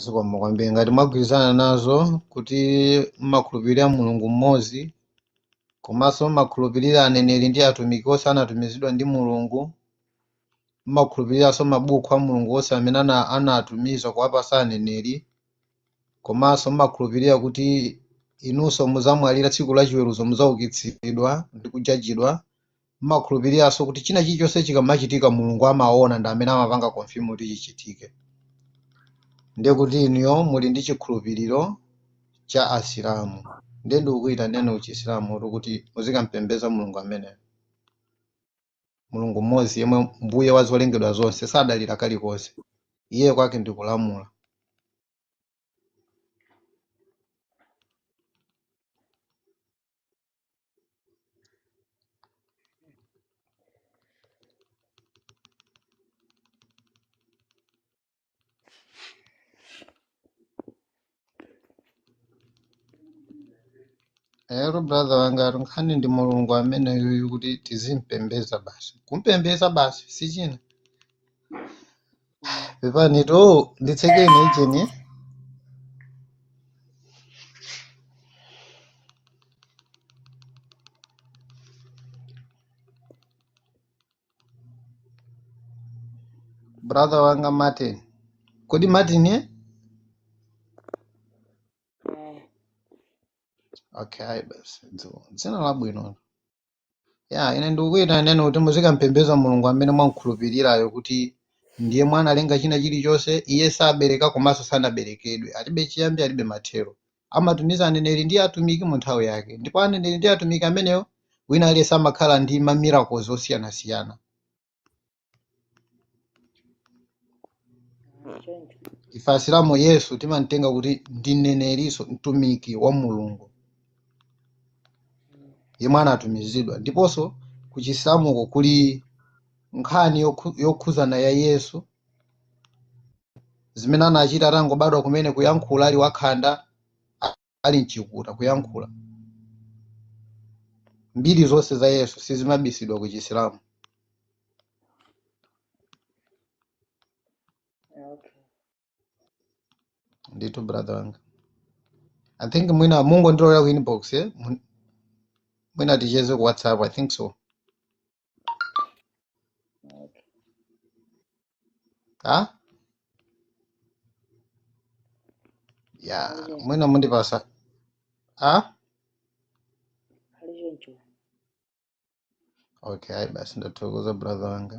zikomo kwambiri ngati mwagwirizana nazo kuti mmakhulupirira mulungu mmodzi komanso mmakhulupirira aneneri ndi atumiki onse anatumizidwa ndi mulungu mmakhulupiriranso mabuku a mulungu onse amene ana- anatumiza kuwapasa aneneri komanso mmakhulupirira kuti inunso muzamwalira tsiku la chiweruzo muzaukitsidwa ndi kujajidwa Mmakhulupiriranso kuti china chilichonse chikamachitika Mulungu amaona ndi amene amapanga confirm kuti chichitike. Ndiye kuti inuyo muli ndi chikhulupiriro cha Asilamu. Ndiye ndikukuitaneni ku Chisilamutu kuti muzikampembeza Mulungu ameneyo. Mulungu mmodzi yemwe mbuye wa zolengedwa zonse sadalira kalikonse. Iye kwake ndi kulamula. Hello brother wangatu nkhani ndi mulungu ameneyuyu kuti tizimpembeza basi kumpembeza basi sichina pepanitu nditsekeni ichi brother wanga martin kodi martin ye okay ayi basi dzina labwino Ya, ine ndikukuyitaneni kuti muzikampembeza Mulungu amene mwamkhulupirirayo kuti ndi yemwe analenga china chilichonse. Iye sabereka komanso sanaberekedwe. Alibe chiyambi, alibe mathero. Amatumiza aneneri ndi atumiki mu nthawi yake. Ndipo aneneri ndi atumiki amenewo, wina aliyense amakhala ndi ma miracles osiyanasiyana. choncho ife asilamu yesu timamtenga kuti ndi mneneri nso mtumiki wa mulungu yemwe anatumizidwa ndiponso ku chisilamuko kuli nkhani yokhu- yokhuzana ya yesu zimene anachita atangobadwa kumene kuyankhula ali wakhanda ali mchikuta kuyankhula mbiri zonse za yesu sizimabisidwa ku chisilamu Okay. ndithu brother wanga i think mwina mungonditsatira ku inbox eh? Mun- mwina ticheze ku whatsapp i think so ah ya mwina mundipasa ah okay ayi basi ndathokoza brother wanga